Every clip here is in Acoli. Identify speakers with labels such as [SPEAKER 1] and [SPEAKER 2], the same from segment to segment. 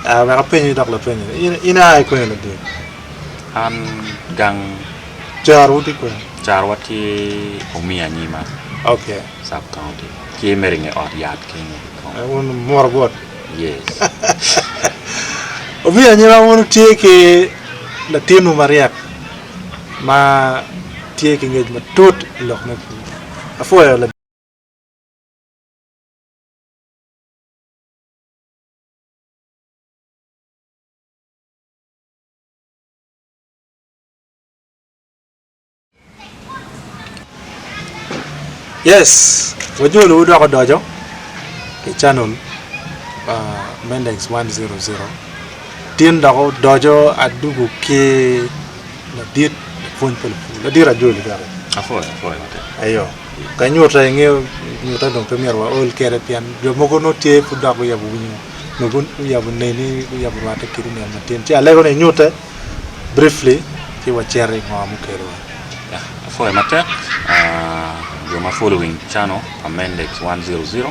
[SPEAKER 1] Aa wek apenyi dok lapenyo ni, in, in aa i kwene lading? An
[SPEAKER 2] gang. Caro
[SPEAKER 1] wuti kwene? Caro watye
[SPEAKER 2] omi anyima. Ok. Sub
[SPEAKER 1] county.
[SPEAKER 2] Tye mere inge ot yat kenyo ki kong. Eh, wun muro
[SPEAKER 1] bot? Yes. Omi anyima wun wutye ki latinwu maryek ma tye ki ngec matut i lok me pur. Apwoyo lading. Yes, wajolo wu dok odoco ki channel uh, Mendex 100 tin dok odoco adugu ki ladit lapwony pa lapur ladit ajoli kaka Apuoyo, apuoyo matek.
[SPEAKER 2] ayo
[SPEAKER 1] Ka nyuta ingeyo nyuta dong pe myero waol kede pien jo mogo nongo tye pud dok guyabo winyo nongo guyabo neni guyabo rwate kit niang matin ci alego ni inyute briefly ci wacito ingo mukelo wa. Yeah, apwoyo
[SPEAKER 2] matek jo ma following channel pa Mendex one zero zero.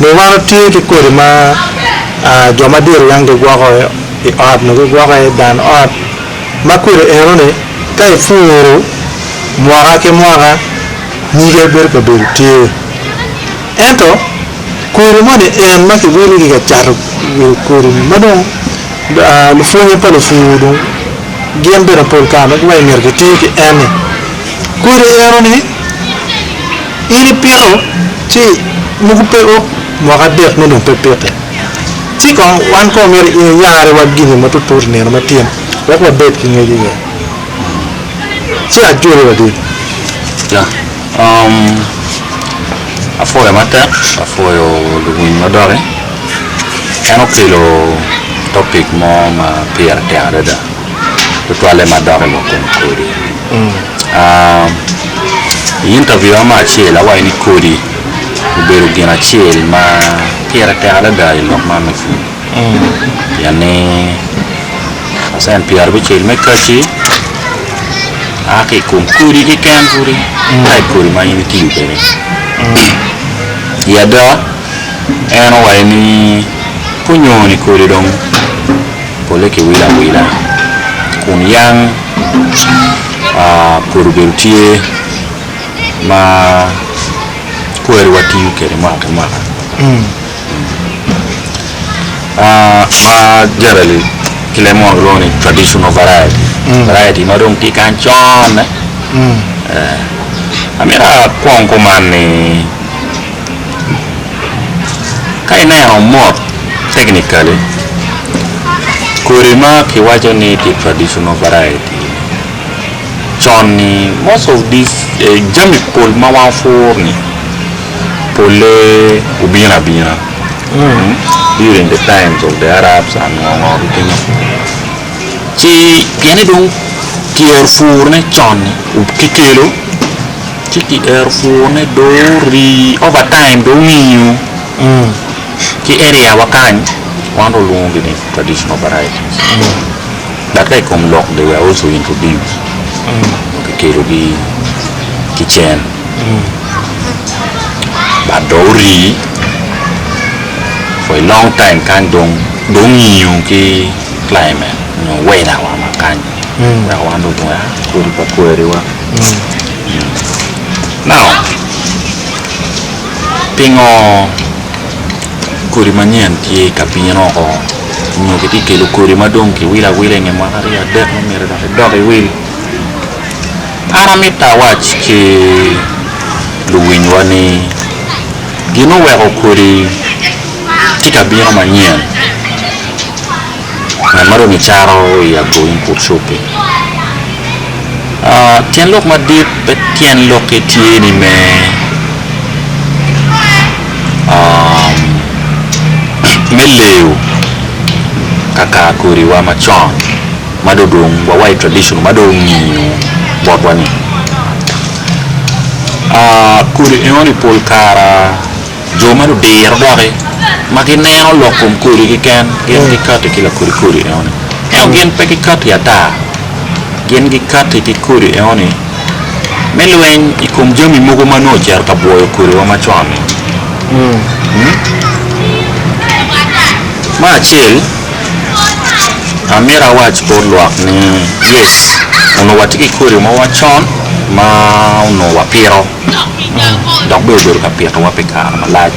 [SPEAKER 1] Ni wan watye ki kodi ma jo madit weng gigwoko i ot nyo gigwoko aye i dan ot ma kodi eno ni ka ipuru mwaka ki mwaka nyige bedo ka bedo tye ento kodi moni en ma kiwili ki ka cato wilo kodi ni ma dong lupwonye pa lupur dong gin bene pol kare dong giwaco ni myero giti ki en ni kodi eno ni In ipiko ci mogo peko mwaka adek ne dong pe piki ci kong wan kong myero iyare wa gini ma tut tut nino ma tyen wek wa bed ki ngec iye ci ajoli wadit. Ya
[SPEAKER 2] um apwoya matek apwoyo luwiny ma doki en okelo topic mo ma pire tek adada. tutwalle madok i lok kom kodi. I interview mo acel awaco ni kodi obedo gin acel ma pire tek adada i lok man me pur pien ni pacent pyera abicel me kaci a ki i kom kodi keken pudi ma i kodi ma in itiyo kwede. I ada en owaco ni ka onyo ni kodi dong pole kiwilo awila, kun yam pwod obedo tye ma kwariwa tiyo kwede mwaka ki mwaka. Ma generally kilemo ma kilwongo ni traditional variety, variety ma dong tye kany conne. Amito akwong kuman ni. Ka ineno mot technically kodi ma kiwaco ni tye traditional variety con ni most of this jami pol ma wan wapur ni pole obino abina during the time of the Arabs and ngo ngo ki kene ci pienni dong ki yero pur ne con ni ki kelo ci ki ero pur ne do rii over time do winyo ki area wa kany wan do walwongo gi ni traditional varieties but ka ikom lok they were also introduced dong ki kelo gi ki cen but do orii for a long time kany dong do winyo ki climate nyo weather wa ma kany. wek wan dong owa kodi pa kwariwa. Now pingo kodi manyen tye ka bino oko nyo kitye ka kelo kodi ma dong kiwilo awila i nge mwaka aryo adek ma myero dok idok iwil? An amitta awac ki luwinywa ni gin oweko kodi tye ka bino manyen. ngat ma dong kicato i agoing pud cobbe. Ah, tyen lok madit pe tyen lokke tye ni me um, me leyo kakar kodiwa macon ma do dong wawa i traditional ma do ongino botwa-ni. Ah, kodi enoni pol kara Jo ma ludiro doki, ma gineno lok kom kodi keken, gin gikatti ki lakodi kodi enoni. Ento gin pe gikatti ata, gin gikatti ki kodi enoni me lweny i kom jami mogo ma nongo ocito ka bwoyo kodiwa macon-ni. Me acel, amito awac bot lwak ni, yes, onongo watye ki kodi mogo macon ma onongo wapito. dok bene obedo ka pitowa pi kare malac.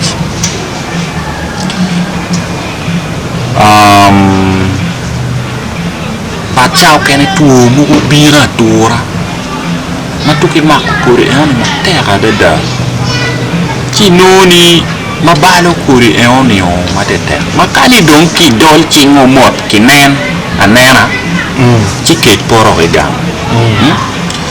[SPEAKER 2] Pacca okene two mogo bino atura ma tuk imako kodi enoni matek adada ci inongo ni ma balo kodi enoni matetek ma kani dong kidol cingo mot kinen anena ci kec poto ki gang.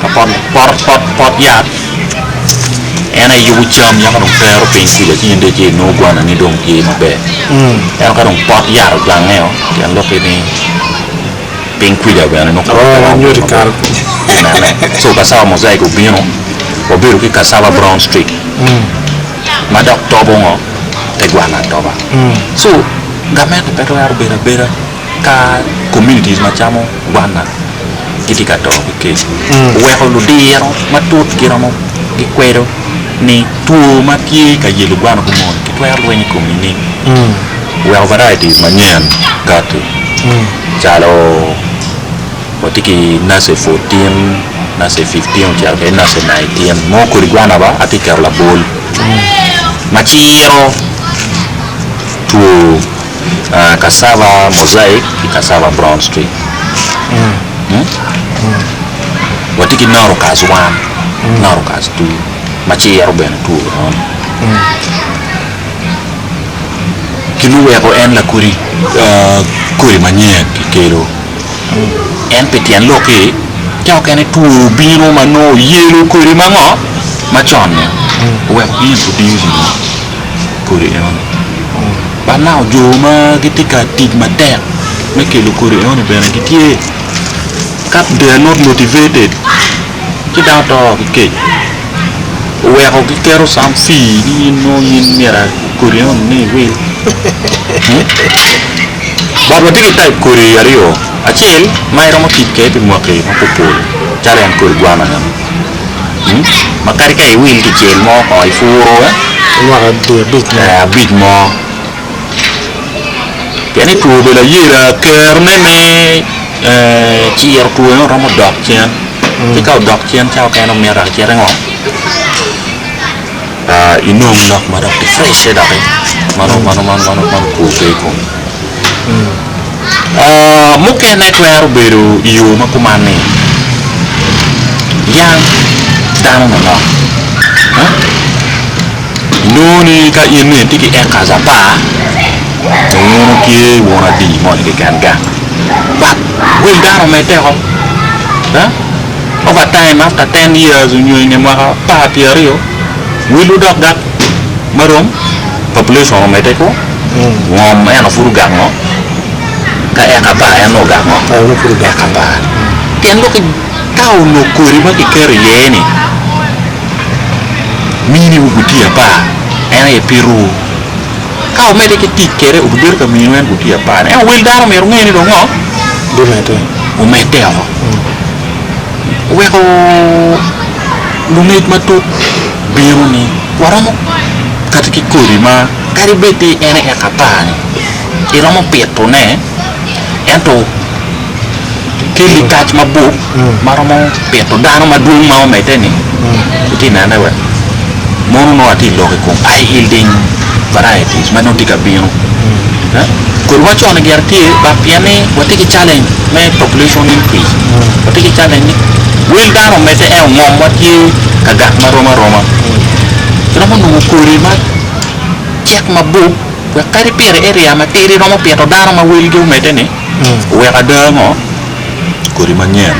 [SPEAKER 2] Pot yat en aye yubo cam yako dong tero piny kuca ci in dong ice inongo gwanani dong tye maber ento ka dong pot yat ojange o pien lok ki ni piny kuca bene nongo kore pe romo bedo maber
[SPEAKER 1] inene
[SPEAKER 2] so cassava mosaic obino wabedo ki cassava brown streak ma dok tobo ngo? te gwana atoba so gamente pe twero bedo abeda. ka communities macamo Gwanda gitye ka to ki kec, oweko ludiro matut giromo gikwedo ni two ma tye ka yelo Gwanda obwo moni kitwero lweny i kom nining? Oweko varieties manyen kati calo watye ki nace fourteen, nace fifteen ocito kede nace nineteen mo kodi Gwanda ba atye ka keto labol ma ciro two cassava mosaic ki cassava brown street watye ki norucus one norucus two ma ci yero bene two enoni gin muweko en lakodi kodi manyen kikelo en pi tyen lok-ki te okene two obino ma nongo oyelo kodi ma ngo ma con-ni oweko ki yubu diri-ni. kodi enoni. Bad nako jo ma gitye ka tic matek me kelo kodi enoni bene gitye ka they are not motivated ci dano to ki kec oweko giketo some fee ni in nongo in myero kodi enoni nongo iwil but watye ki type kodi aryo acel ma iromo tic kwede pi mwaki mapol pol calo en kodi gwana enoni. ma kadi ka iwil kicel mo ko i puro
[SPEAKER 1] abic mo
[SPEAKER 2] pien ni two bene layela kero ne me ciro two ne romo dok cen ci ka odok cen cawa mukene omito cite ngo. Inong lok ma dok kifrecce dok ma okur pe i kome. Mukene twero bedo i yo ma kuman ni yam dano manok inongo ni ka in ni itye ki acres apar ma inongo ni tye wun adi moni keken gang but wil dano meddeko. Overtime after ten years onyo inge mwaka apar pyer aryo will odok gak marom population omede kwo ngom eno pud ogak ngo ka eka apar eno ogak ngo eka
[SPEAKER 1] apar
[SPEAKER 2] pien lok ka onok kodi ma kiketo iye ni mini wu gutye apar en aye pito wu. Ka wumedde ki tic kwede, wubibedo ka miyo en gutiya apar. Ento Wel dano myero wunge ni dong ngo?
[SPEAKER 1] Wumedde
[SPEAKER 2] woko. Weko lungec matut bino ni waromo kati ki kodi ma kadi bed ni en aye eka apar-ni, iromo pitone, ento. ki likac mabup ma romo pito dano madwong ma omedde-ni, wutye ka nene wek mono nongo atye ka lok i kom high yielding varieties ma nongo tye ka bino. Kodi macone gire tye dok pien ni watye ki challenge me population increase, watye ki challenge ni wel dano omedde ento ngomwa tye ka gak ma rom aroma. Iromo nongo kodi macek mabup wek kadi pire area matidi romo pito dano ma welgi omedde-ni, Wek ada ango? Kodi manyen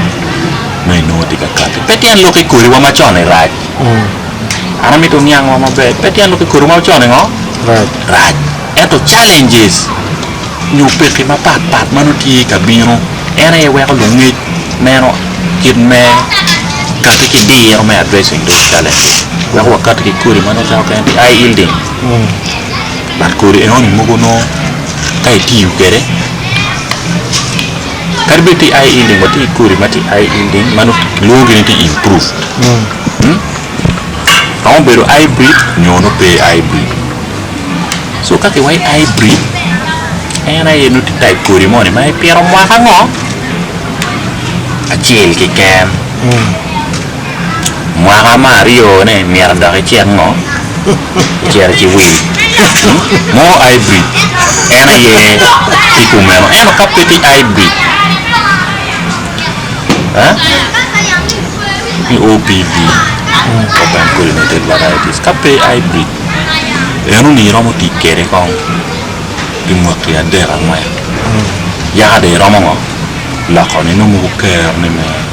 [SPEAKER 2] ma inongo tye ka kati pe tyen lok ki kodiwa ma con-ni rac. An amito niangwa maber, pe tyen lok ki kodiwa ma con-ni ngo? Rac. Ento challenges nyo pekki mapat pat ma nongo tye ka bino en aye weko lungec neno kit me kati ki diro me addressing those challenges weko wakati ki kodi ma nongo calo kene tye eye yielding. But kodi enoni mogo nongo ka itiyo kwede kadi bed tye eye ending wa tye kodi matye eye ending ma nongo kilwongo gi ni tye improved nongo obedo hybrid nyo nongo pe hybrid so ka kiwaco hybrid en aye nongo tye type kodi moni ma ipito mwaka ngo acel keken. Mwaka ma aryone myero adok icek ngo? Ocito ci wil. More hybrid en aye ki kumeno ento ka pe ti hybrid ni OPV, Open Pollinated Varieties, ka pe hybrid eno ni iromo tic kede kong pi mwaki adek angwen yaka dong iromo ngo? Loko ni nongo gukeroni me.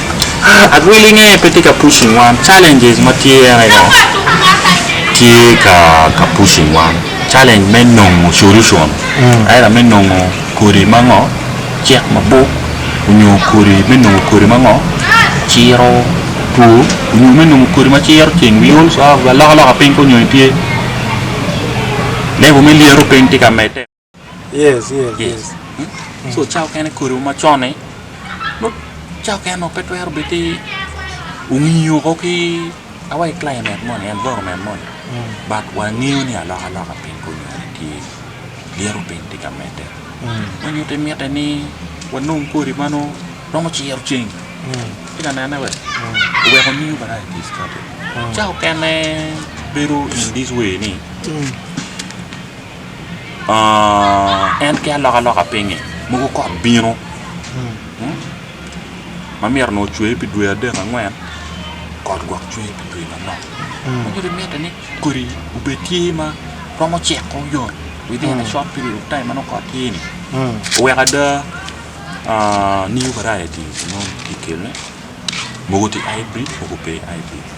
[SPEAKER 2] Adwilinge pe tye ka pushing wan, challenges ma tye ene yo tye ka ka pushing wan, challenge me nongo solution either me nongo kodi ma ngo cek mabup onyo kodi me nongo kodi ma ngo ciro two onyo me nongo kodi ma ciro ceng we also have alokaloka piny ka onyonyo tye level me lyeto piny tye ka medde. Yes, yes, Yes.
[SPEAKER 1] yes. Hmm?
[SPEAKER 2] So cawa kene kodi ma con-ni no cawa kene no pe twero bed ti ongiyo ko ki awa i climate moni, environment moni. Mm, But wangeyo ni aloka loka piny kunyone tye. Lyeto piny tye ka medde. mm, Ma nyuti mitte ni wanong kodi ma nongo romo ciro ceng. mm, Tye ka nene we? mm, Oweko new varieties kati. mm, Cawa kene bedo in this way ni mm. en ki alokaloka pinye mogo kot bino ma myero onongo ocwe pi dwe adek angwen kot gwok cwe pi dwe manok ma nyuto ni mitte ni kodi obed tye ma romo ceko yot within a short period of time ma nongo kot tye ni oweko ada new variety onongo kikelone mogo tye hybrid mogo pe hybrid.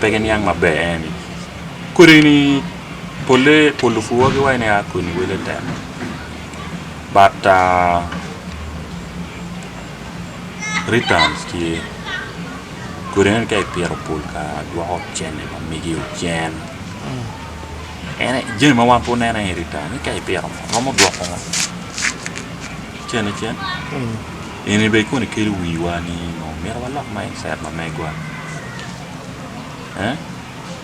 [SPEAKER 2] pe giniang maber en ni kodi-ni polle pu lupuwa giwaco ni aa kodi-ni wele tek but returns tye kodi eni ka ipito pol kare dwoko cente pa megi ocen en aye jami ma wan pe waneno aye return ni ka ipito ngo romo dwoko ngo cente cen Eni bene koni kelo wiwa ni onongo myero walok mindset ma megwa.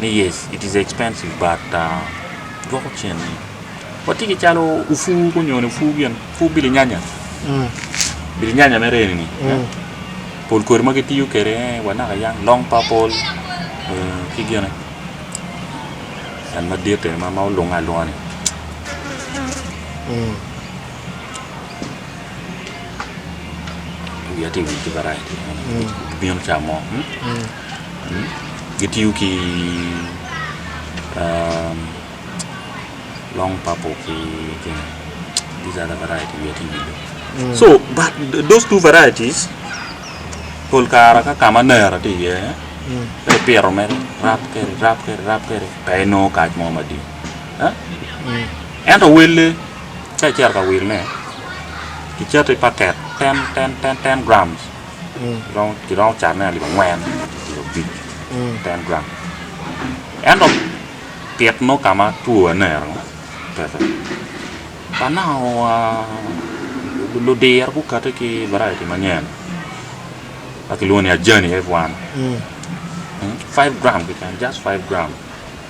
[SPEAKER 2] Ni yes it is expensive but dwoko cen-ni. Watye ki calo opwu onyo ni opwu gin opwu bilinganya, bilinganya mere eni-ni pol kodi ma gitiyo kwede wa naka yang long purple ki gine en maditte ma olunge alunga-ni. gitiyo ki long purple ki kene these are the variety wiya tye owil dong so but those two varieties pol kare ka kama nera tye iye ka ipito mere irab kwede irab kwede irab kwede pe inongo kac mo madit ento welle ka icito ka wilone kicato i paket ten ten ten ten gram kiromo kiromo catone alip angwen nyo abic ten gram ento pit nongo ka ma two anera peke ka naka wa ludiro gukate ki baraiti manyen ma kilwongo ni ajani F1 five gram keken just five gram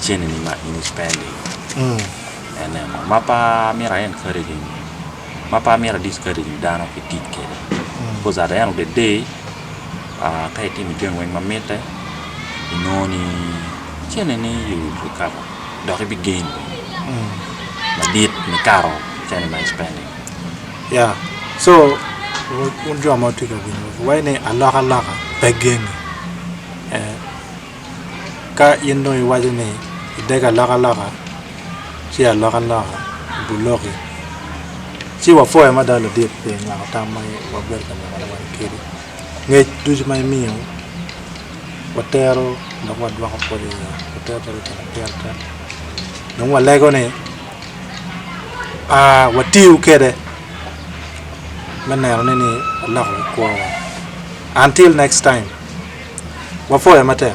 [SPEAKER 2] cene ni ma in spending ene mo ma pe amyero a encourage nyo ma pe amyero a discourage nyo dano ki tic kede because at the end of the day aa ka itimo jami weng ma mitte inongo ni cene ni you will recover dok ibi gain bene madit nikato cene ma i spending Yeah.
[SPEAKER 1] So, wun jo ma wutye ka winyo, wayne alokaloka pe gene. Eh. ka in dong iwaco ni idege alokaloka ci alokke aloka i buloki ci wapoyo mada ladit pi nyako tam ma wabedo ka neno wang kidi ngec ducu ma imiyo watero dok wadwoko pwod iye watero calo gin ma pire tek dong walego ni watiyo kwede me neno ni ni oloko ki kwowa until next time
[SPEAKER 2] wapwoyo
[SPEAKER 1] matek.